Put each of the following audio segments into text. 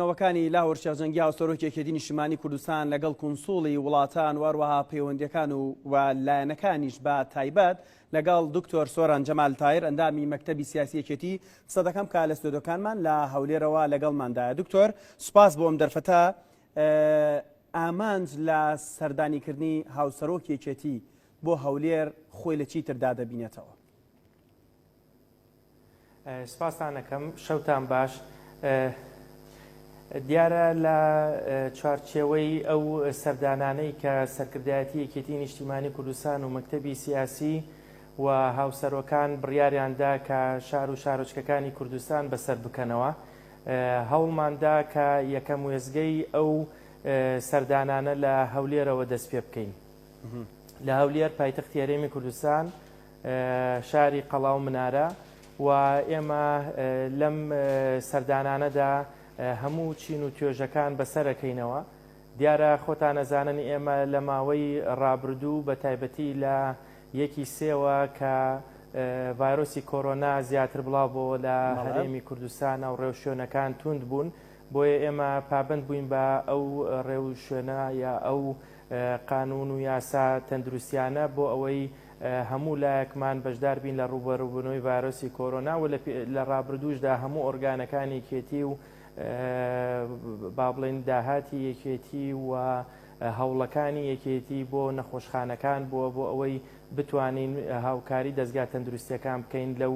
نەوەکانی لاهور شێخ جەنگی هاوسەرۆکی یەکێتی نیشتمانی کوردستان لەگەڵ کونسوڵی وڵاتان واروەها پەیوەندیەکان و و لایەنەکانیش بە تایبەت لەگەڵ دکتۆر سۆران جەمال تایر ئەندامی مەکتەبی سیاسی یەکێتی قسە دەکەم کە لە ستۆدۆکانمان لە هەولێرەوە لەگەڵماندایە دکتۆر سوپاس بۆ ئەم دەرفەتە ئامانج لە سەردانیکردنی هاوسەرۆکی یەکێتی بۆ هەولێر خۆی لە چی تردا دەبینێتەوە سپاستان ئەکەم شەوتان باش. دیارە لە چوارچێوەی ئەو سەردانانەی کە سەرکردایەتی یەکێتی نیشتیمانی کوردستان و مەکتەبی سیاسی و هاوسەرۆکان بڕیاریاندا کە شار و شارۆچکەکانی کوردستان بەسەر بکەنەوە هەوڵماندا کە یەکەم وێزگەی ئەو سەردانانە لە هەولێرەوە دەست پێ بکەین لە هەولێر پایتەختی هەرێمی کوردستان شاری قەڵا و منارە و ئێمە لەم سەردانانەدا هەموو چین و توێژەکان بەسەرەکەینەوە دیارە خۆتان ئەزانن ئێمە لە ماوەی ڕابردوو بە تایبەتی لە یەکی سێوە کە ڤایرۆسی کۆرۆنا زیاتر بڵاو بۆ لە هەرێمی کوردستان و ڕێو شوێنەکان توند بوون بۆیە ئێمە پابند بووین بە ئەو ڕێو شوێنە یا ئەو قانون و یاسا تەندروستیانە بۆ ئەوەی هەموو لایەکمان بەشدار بین لە ڕووبەروبونەوەی ڤایرۆسی کۆرۆنا و لە ڕابردووشدا هەموو ئۆرگانەکانی یەکێتی و با بڵێین داهاتی یەکێتی و هەوڵەکانی یەکێتی بۆ نەخۆشخانەکان بووە بۆ ئەوەی بتوانین هاوکاری دەستگا تەندروستیەکان بکەین لەو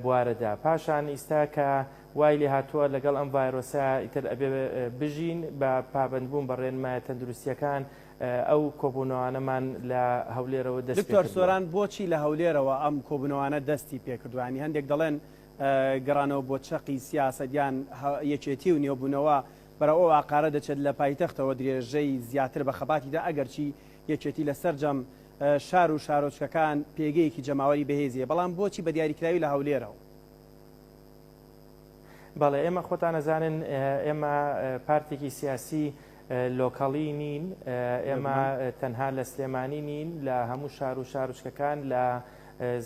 بوارەدا پاشان ئیستا کە وای لێ هاتووە لەگەڵ ئەم ڤایرۆسە ئیتر ئەبێ بژین بە پابندبوون بە ڕێنمایە تەندروستیەکان ئەو کۆبوونەوانەمان لە هەولێرەوە دەست پێ کردووە. دکتۆر سۆران، بۆچی لە هەولێرەوە ئەم کۆبوونەوانە دەستی پێ کردووە؟ یانی هەندێک دەڵێن گەڕانەوە بۆ چەقی سیاسەت یان یەکێتی و نوێبوونەوە بەرەو ئەو ئاقارە دەچێت لە پایتەختەوە درێژەی زیاتر بە خەباتی دا، ئەگەرچی یەکێتی لە سەرجەم شار و شارۆچکەکان پێگەیەکی جەماوەری بەهێزی هەیە، بەڵام بۆچی بە دیاریکراوی لە هەولێرەوە؟ بەڵێ ئێمە خۆتان ئەزانن ئێمە پارتێکی سیاسی لۆکەڵی نین ئێمە تەنها لە سلێمانی نین لە هەموو شار و شارچکەکان لە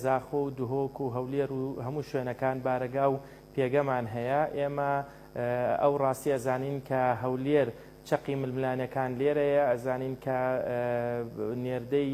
زاخۆ و دهۆک و هەولێر و هەموو شوێنەکان بارەگا و پێگەمان هەیە ئێمە ئەو ڕاستی ئەزانین کە هەولێر چەقی ململانەکان لێرەیە ئەزانین کە نێردەی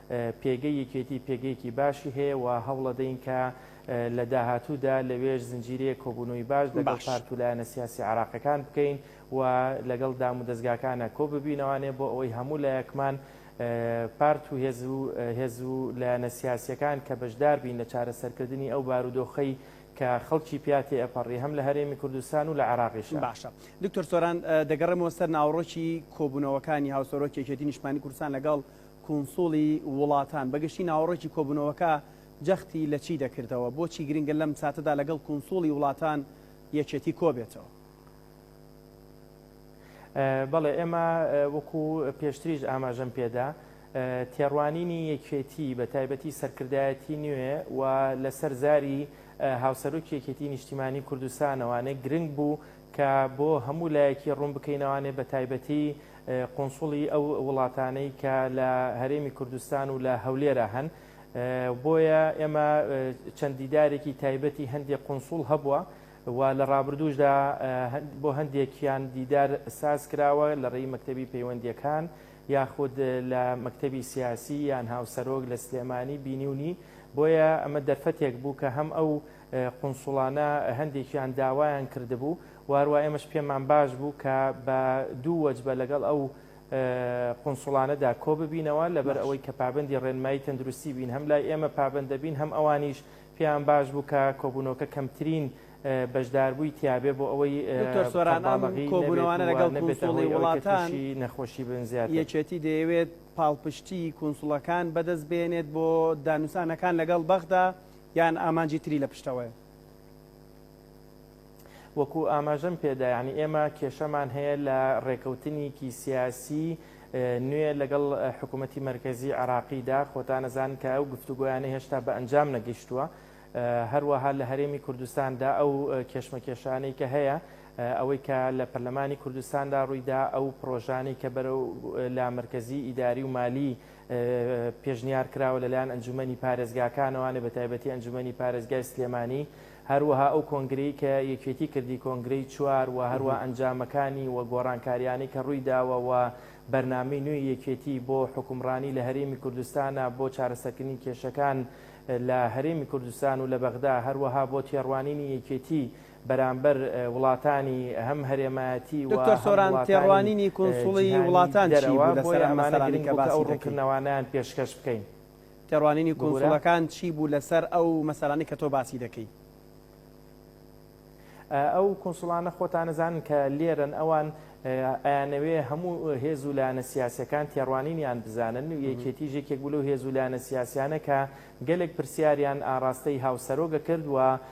پێگەی یەکێتی پێگەیەکی باشی هەیە و هەوڵەدەین کە لە داهاتوودا لەوێش زنجیرەیەک کۆبوونەوەی باش لەگەڵ پارت و لایەنە سیاسی عێراقیەکان بکەین و لەگەڵ دامودەزگاکانە کۆببینەوانێ بۆ ئەوەی هەموو لایەکمان پارت و هێز و هێز و لایەنە سیاسیەکان کە بەشدار بین لە چارەسەرکردنی ئەو بارودۆخەی کە خەڵکی پیاتی ئەپەڕی هەم لە هەرێمی کوردستان و لە عێراقیش باشە دکتۆر سۆران دەگەڕێمەوە سەر ناوەڕۆکی کۆبوونەوەکانی هاوسەرۆکی یەکێتی نیشتمانی کوردستان لەگەڵ کونسوڵی وڵاتان بە گشتی ناوەڕۆکی کۆبوونەوەکە جەختی لە چی دەکردەوە؟ بۆچی گرنگە لەم ساتەدا لەگەڵ کونسوڵی وڵاتان یەکێتی کۆبێتەوە؟ بەڵێ ئێمە وەکو پێشتریش ئاماژەم پێدا تێڕوانینی یەکێتی بە تایبەتی سەرکردایەتی نوێ و لەسەر زاری هاوسەرۆکی یەکێتی نیشتیمانی کوردستانەوانێ گرنگ بوو کە بۆ هەموو لایەکی ڕوون بکەینەوانێ بە تایبەتی قونسوڵی ئەو وڵاتانەی کە لە هەرێمی کوردستان و لە هەولێرا هەن بۆیە ئێمە چەند دیدارێکی تایبەتی هەندێک قونسوڵ هەبووە و لە ڕابردووشدا بۆ هەندێکیان دیدار ساز کراوە لە ڕێی مەکتەبی پەیوەندیەکان یاخود لە مەکتەبی سیاسی یان هاوسەرۆک لە سلێمانی بینیونی بۆیە ئەمە دەرفەتێک بوو کە هەم ئەو قونسوڵانە هەندێکیان داوایان کردبوو و هەروا ئێمەش پێمان باش بوو کە بە دوو وەجبە لەگەڵ ئەو قونسوڵانەدا کۆ ببینەوە لەبەر باش ئەوەی کە پابەندی ڕێنمایی تەندروستی بین هەم لای ئێمە پابەند دەبین هەم ئەوانیش پێیان باش بوو کە کۆبوونەوەکە کەمترین بەشداربووی تیابێ بۆ ئەوەی دکتۆر سۆران ئەم قەرباڵغی نەبێت کۆبوونەوانە و لەگەڵ نەبێتە کونسوڵی هۆی ئەوەی کە وڵاتان تووشی نەخۆشی بن زیاتر. یەکێتی دەیەوێت پاڵپشتیی کونسوڵەکان بەدەست بێنێت بۆ دانوسانەکان لەگەڵ بەغدا یان ئامانجی تری لە پشتەوەیە؟ وەکو ئاماژەم پێدا یانی ئێمە کێشەمان هەیە لە ڕێکەوتنیکی سیاسی نوێ لەگەڵ حکوومەتی مەرکەزی عراقیدا خۆتانەزان کە ئەو گفتوگۆیانە هێشتا بە ئەنجام نەگەیشتووە هەروەها لە هەرێمی کوردستاندا ئەو کێشمەکێشانەی کە هەیە ئەوەی کە لە پەرلەمانی کوردستاندا ڕوویدا ئەو پرۆژانی کە بەرەو لا مرکزی ئیداری و مالی پێشنیار کراوە لەلایەن ئەنجومەنی پارێزگاکانەوانێ بە تایبەتی ئەنجومەنی پارێزگای سلێمانی هەروەها ئەو کۆنگرەی کە یەکێتی کردی کۆنگرەی چوار و هەروا ئەنجامەکانی و گۆڕانکاریانەی کە ڕووی داوە و بەرنامەی نوێی یەکێتی بۆ حوکمڕانی لە هەرێمی کوردستانە بۆ چارەسەرکردنی کێشەکان لە هەرێمی کوردستان و لە بەغدا هەروەها بۆ تێڕوانینی یەکێتی بەرامبەر وڵاتانی هەم هەرێمایەتی و دکتۆر هەم سۆران وڵاتانی تێڕوانینی کونسوڵی جیهانی وڵاتان چی دەرەوە، بوو لەسەر بۆیە ئەم ئەمانە مەسەلانەی گرنگ کە بوو کە ئەو باسی دەکەی؟ ڕوونکردنەوانەیان پێشکەش بکەین. تێڕوانینی ببورە. کونسوڵەکان چی بوو لەسەر ئەو مەسەلانەی کە تۆ باسی دەکەی؟ ئەو کونسوڵانە خۆتان ئەزانن کە لێرەن، ئەوان ئەیانەوێ هەموو هێز و لایەنە سیاسییەکان تێڕوانینیان بزانن، یەکێتیش یەکێک بوو لەو هێز و لایەنە سیاسییانە کە گەلێک پرسیاریان ئاڕاستەی هاوسەرۆک ئەکرد و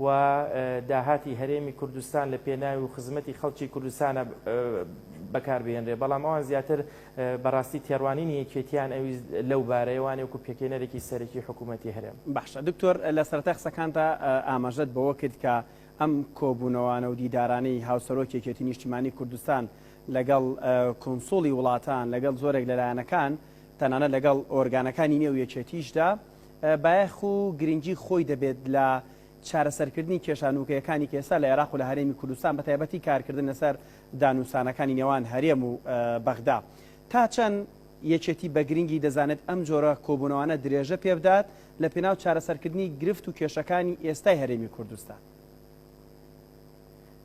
و داهاتی هەرێمی کوردستان لە پێناوی و خزمەتی خەڵکی کوردستانە بەکار بهێنرێت، بەڵام ئەوان زیاتر بەڕاستی تێڕوانینی یەکێتییان ئەویست لەو بارەیە، وانیە وەکو پێکهێنەرێکی سەرەکی حکوومەتی هەرێم. باشە دکتۆر لە سەرەتای قسەکانتا ئاماژەت بەوە کرد کە ئەم کۆبوونەوانە و دیدارانەی هاوسەرۆکی یەکێتی نیشتیمانی کوردستان لەگەڵ کونسوڵی وڵاتان، لەگەڵ زۆرێک لە لایەنەکان، تەنانەت لەگەڵ ئۆرگانەکانی نێو یەکێتیشدا، بایەخ و گرنگی خۆی دەبێت لە چارەسەرکردنی کێشە نووکەیەکانی کە ئێستا لە عێراق و لە هەرێمی کوردستان بە تایبەتی کارکردن لەسەر دانوسانەکانی نێوان هەرێم و بەغدا تا چەند یەکێتی بە گرنگی دەزانێت ئەم جۆرە کۆبوونەوانە درێژە پێبدات لە پێناو چارەسەرکردنی گرفت و کێشەکانی ئێستای هەرێمی کوردستان.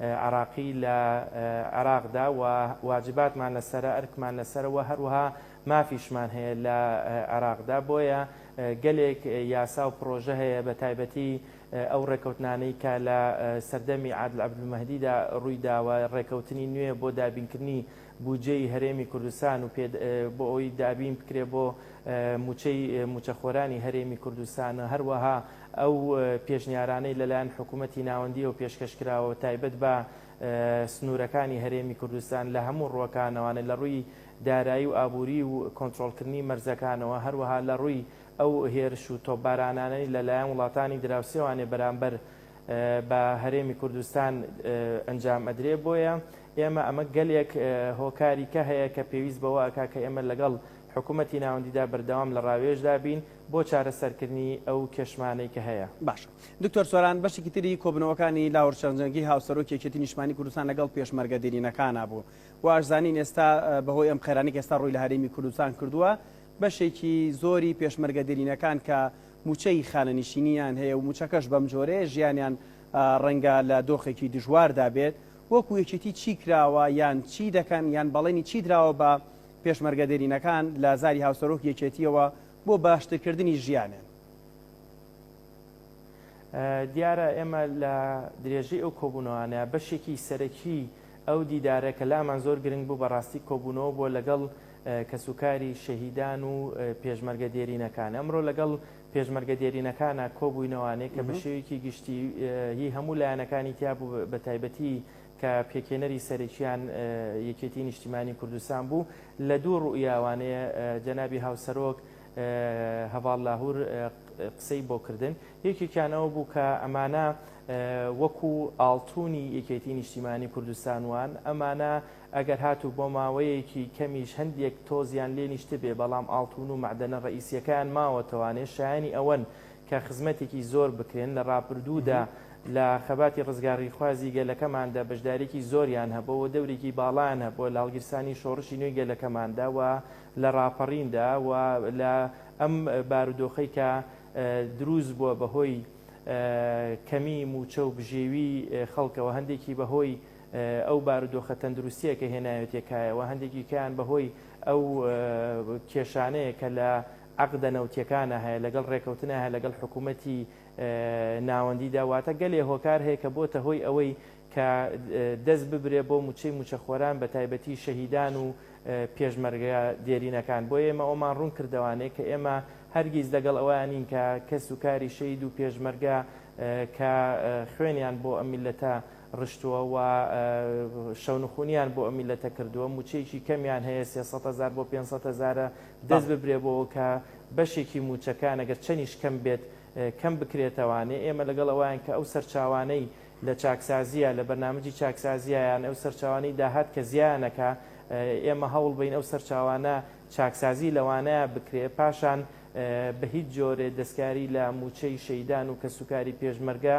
عێراقی لە عێراقدا و واجباتمان لەسەرە، ئەرکمان لەسەرە و هەروەها مافیشمان هەیە لە عێراقدا، بۆیە گەلێک یاسا و پڕۆژە هەیە بە تایبەتی ئەو ڕێکەوتنانەی کە لە سەردەمی عادل عەبدولمەهدیدا ڕوویداوە، ڕێکەوتنی نوێ بۆ دابینکردنی بودجەی هەرێمی کوردستان و بۆ ئەوەی دابین بکرێت بۆ مووچەی مووچەخۆرانی هەرێمی کوردستان، هەروەها ئەو پێشنیارانەی لەلایەن حکوومەتی ناوەندییەوە پێشکەش کراوە تایبەت بە سنوورەکانی هەرێمی کوردستان لە هەموو ڕووەکانەوانە لە ڕووی دارایی و ئابووری و کۆنترۆڵکردنی مەرزەکانەوە هەروەها لە ڕووی ئەو هێرش و تۆپبارانانەی لەلایەن وڵاتانی دراوسێوانێ بەرامبەر بە هەرێمی کوردستان ئەنجام ئەدرێ بۆیە ئێمە ئەمە گەلێک هۆکاری کە هەیە کە پێویست بەوە ئەکا کە ئێمە لەگەڵ حکوومەتی ناوەندیدا بەردەوام لە ڕاوێژدا بین بۆ چارەسەرکردنی ئەو کێشمانەی کە هەیە. باشە دکتۆر سۆران بەشێکی تری کۆبوونەوەکانی لاور چەنجەنگی هاوسەرۆکی یەکێتی نیشتمانی کوردستان لەگەڵ پێشمەرگە دێرینەکانا بوو و ئاشزانین ئێستا بەهۆی ئەم قەیرانەی کە ئێستا ڕووی لە هەرێمی کوردستان کردووە بەشێکی زۆری پێشمەرگە دێرینەکان کە مووچەی خانەنیشینیان هەیە و مووچەکەش بەم جۆرەیە، ژیانیان ڕەنگە لە دۆخێکی دژواردا بێت، وەکو یەکێتی چی کراوە یان چی دەکەن یان بەڵێنی چی دراوە بە پێشمەرگە دێرینەکان، لە زاری هاوسەرۆکی یەکێتییەوە بۆ باشترکردنی ژیانیان؟ دیارە ئێمە لە درێژەی ئەو کۆبوونەوانە بەشێکی سەرەکی ئەو دیدارە کە لامان زۆر گرنگ بوو بەڕاستی کۆبوونەوە بووە لەگەڵ کەسوکاری شەهیدان و پێشمەرگە دێرینەکان ئەمرۆ لەگەڵ پێشمەرگە دێرینەکانا کۆبووینەوانێ کە بەشێویکی گشتی هی هەموو لایەنەکانی تیابوو بەتایبەتی کە پێکێنەری سەرەکیان یەکێتی نیشتیمانی کوردستان بوو لە دوو ڕوئیاوانێ جەنابی هاوسەرۆک هەڤاڵ لاهور قسەی بۆ کردن یەکێکیان ئەوە بوو کە ئەمانە وەکو ئاڵتونی یەکێتی نیشتیمانی کوردستان وان ئەمانە ئەگەر هاتوو بۆ ماوەیەکی کەمیش هەندێک تۆزیان لێ نیشتبێ، بەڵام ئاڵتوون و مەعدەنە ڕەئیسیەکەیان ماوەتەوانێ شایەنی ئەوەن کە خزمەتێکی زۆر بکرێن، لە ڕابردوودا لە خەباتی ڕزگاڕیخوازی گەلەکەماندا بەشدارێکی زۆریان هەبووە و دەورێکی باڵایان هەبووە لە هەڵگیرسانی شۆڕشی نوێی گەلەکەماندا و لە ڕاپەڕیندا و لە ئەم بارودۆخەی کە دروست بووە بە هۆی کەمی مووچە و بژێوی خەڵکەوە هەندێکی بە هۆی ئەو بارودۆخە تەندروستییە کە هێناوێتیە کایەوە هەندێکی کەیان بە هۆی ئەو کێشانەیە کە لە عەقدە نەوتیەکانا هەیە لەگەڵ ڕێکەوتنا هەیە لەگەڵ حکوومەتی ناوەندیدا واتە گەلێ هۆکار هەیە کە بۆتە هۆی ئەوەی کە دەست ببرێ بۆ موچەی موچەخۆران بە تایبەتی شەهیدان و پێشمەرگە دێرینەکان بۆ ئێمە ئەومان ڕوون کردوانێ کە ئێمە هەرگیز لەگەڵ ئەوانین کە کەس و کاری شەید و پێشمەرگە کە خوێنیان بۆ ئەم میلەتە ڕشتووە و شەونخونیان بۆ ئەم میللەتە کردووە، مووچەیەکی کەمیان هەیە سێ سەد هەزار بۆ پێنج سەد هەزارە، دەست ببرێ بەوە کە بەشێکی مووچەکان ئەگەر چەنیش کەم بێت کەم بکرێتەوانێ، ئێمە لەگەڵ ئەوان کە ئەو سەرچاوانەی لە چاکسازییە لە بەرنامجی چاکسازییە یان ئەو سەرچاوانەی داهات کە زیایان ئەکا ئێمە هەوڵ بەین ئەو سەرچاوانە چاکسازی لەوانەیا بکرێ پاشان بە هیچ جۆرێ دەستکاری لە مووچەی شەیدان و کەسوکاری پێشمەرگە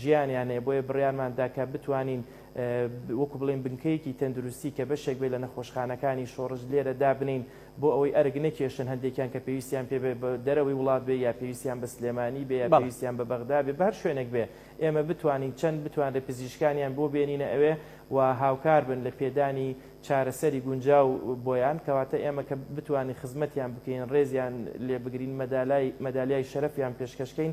ژیانیان هەیە بۆیە بڕیارمان دا کە بتوانین وەکو بڵین بنکەیەکی تەندروستی کە بەشێک بێ لە نەخۆشخانەکانی شۆڕش لێرە دابنین بۆ ئەوەی ئەرگ نەکێشن هەندێکیان کە پێویستیان پێ دەرەوەی وڵات بێ یا پێویستیان بە سلێمانی بێ یا پێویستیان بە بەغدا بێ بەر شوێنێک بێ ئێمە بتوانین چەند بتوان لە پزیشکانیان بۆ بێنینە ئەوێ و هاوکار بن لە پێدانی چارەسەری گونجاو بۆیان کەواتە ئێمە کە بتوانین خزمەتیان بکەین ڕێزیان لێ بگرین مەدالای مەدالیای شەرەفیان پێشکەشکەین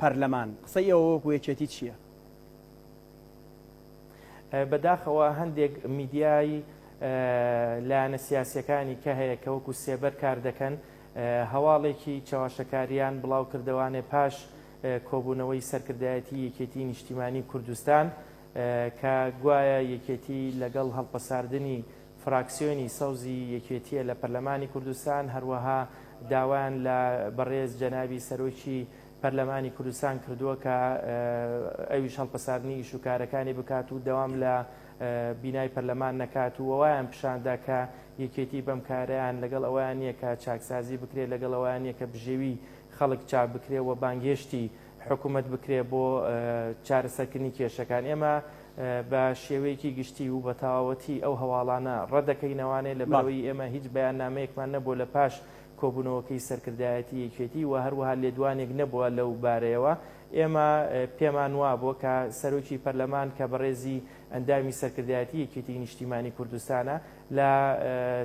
پەرلەمان قسەی ئێوە وەکو یەکێتی چیە؟ بەداخەوە هەندێک میدیای لایەنە سیاسیەکانی کە هەیە کە وەکو سێبەر کار دەکەن هەواڵێکی چەواشەکاریان بڵاو کردەوانێ پاش کۆبوونەوەی سەرکردایەتی یەکێتی نیشتیمانی کوردستان کە گوایە یەکێتی لەگەڵ هەڵپەساردنی فراکسیۆنی سەوزی یەکێتییە لە پەرلەمانی کوردستان، هەروەها داوایان لە بەڕێز جەنابی سەرۆکی پەرلەمانی کوردستان کردووە کە ئەویش هەڵپەساردنی ئیش و کارەکانی بکات و دەوام لە بینای پەرلەمان نەکات و وایان پیشاندا کە یەکێتی بەم کارەیان لەگەڵ ئەویان نییە کە چاکسازی بکرێت لەگەڵ ئەویان نییە کە بژێوی خەڵک چاک بکرێت و بانگهێشتی حکومەت بکرێت بۆ چارەسەرکردنی کێشەکان ئێمە بە شێوەیەکی گشتی و بەتەواوەتی ئەو هەواڵانە ڕەدەکەینەوانێ لە بەرەوەی ئێمە هیچ بەیاننامەیەکمان نەبووە لە پاش کۆبوونەوەکەی سەرکردایەتی یەکێتی و هەروەها لێدوانێک نەبووە لەو بارەیەوە ئێمە پێمان وابووە کە سەرۆکی پەرلەمان کە بەڕێزی ئەندامی سەرکردایەتی یەکێتی نیشتیمانی کوردستانە لە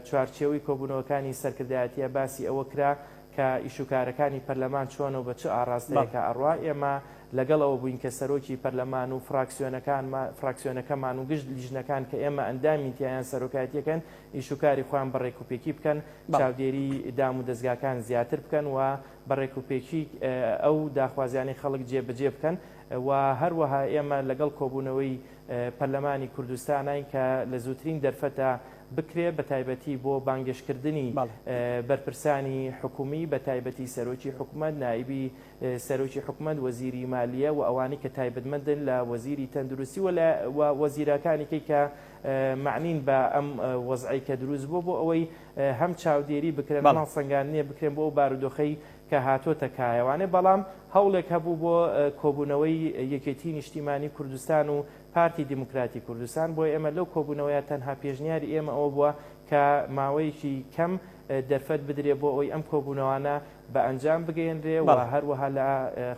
چوارچێوەی کۆبوونەوەکانی سەرکردایەتیە باسی ئەوە کرا کە ئیشوکارەکانی پەرلەمان چۆنە و بە چ ئاڕاستەیەکا ئەڕوا، ئێمە لەگەڵەوە بووین کە سەرۆکی پەرلەمان و فراکسیۆنەکەمان و گشت لیژنەکان کە ئێمە ئەندامین تیایان سەرۆکایەتیەکەن ئیشوکاری خۆیان بە ڕێکوپێکی بکەن، چاودێری دام و دەزگاکان زیاتر بکەن و بە ڕێکوپێکی ئەو داخوازیانەی خەڵک جێ بەجێ بکەن و هەروەها ئێمە لەگەڵ کۆبوونەوەی پەرلەمانی کوردستاناین کە لە زووترین دەرفەتا بکرێت بەتایبەتی بۆ بانگێشتکردنی بەرپرسانی حکومی بەتایبەتی سەرۆکی حکومەت، نائیبی سەرۆکی حکومەت، وەزیری مالیە و ئەوانەی کە تایبەتمەندن لە وەزیری تەندروستی و وەزیراکانیکەی کە مەعنین بە ئەم وەزعەی کە دروست بووە بۆ ئەوەی هەم چاودێری بکرێن هەم هەڵسەنگاندنێ بکرێن بۆ ئەو بارودۆخەی کە هاتۆتە کایەوانێ بەڵام هەوڵێک هەبوو بۆ کۆبونەوەی یەکێتی نیشتیمانی کوردستان و پارتی دیموکراتی کوردستان، بۆ ئێمە لەو کۆبوونەوەیە تەنها پێشنیاری ئێمە ئەوە بووە کە ماوەیەکی کەم دەرفەت بدرێ بۆ ئەوەی ئەم کۆبوونەوانە بە ئەنجام بگەیەنرێ و هەروەها لە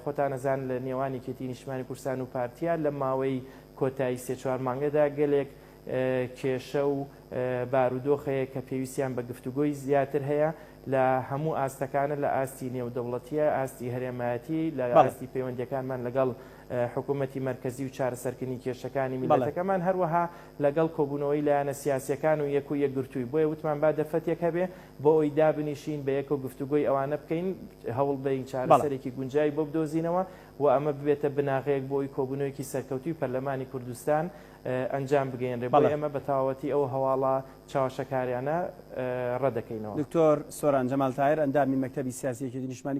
خۆتان ئەزان لە نێوان یەکێتی نیشتمانی کوردستان و پارتیە لە ماوەی کۆتایی سێ چوار مانگەدا گەلێک کێشە و بارودۆخ هەیە کە پێویستیان بە گفتوگۆی زیاتر هەیە لە هەموو ئاستەکانە لە ئاستی نێودەوڵەتیە ئاستی هەرێمایەتی لە ئاستی پەیوەندەکانمان لەگەڵ حکومەتی مەرکەزی و چارەسەرکردنی کێشەکانی میللەتەکەمان، هەروەها لەگەڵ کۆبوونەوەی لایەنە سیاسییەکان و یەک و یەکگرتووی، بۆیە وتمان با دەرفەتێک هەبێ بۆ ئەوی دابنیشین بە یەکەو گفتوگۆی ئەوانە بکەین، هەوڵبدەین چارەسەرێکی گونجاوی بۆ بدۆزینەوە و ئەمە ببێتە بناغەیەک بۆ ئەوی کۆبوونەوەیەکی سەرکەوتووی پەرلەمانی کوردستان ئەنجام بگەیەنرێ، بۆیە ئێمە بە تەواوەتی ئەو هەواڵە چاواشەکاریانە ڕەتدەکەینەوە. دکتۆر سۆران جەمال تاهیر ئەندامی مەکتەبی سیاسی یەکێتی نیشتمانی.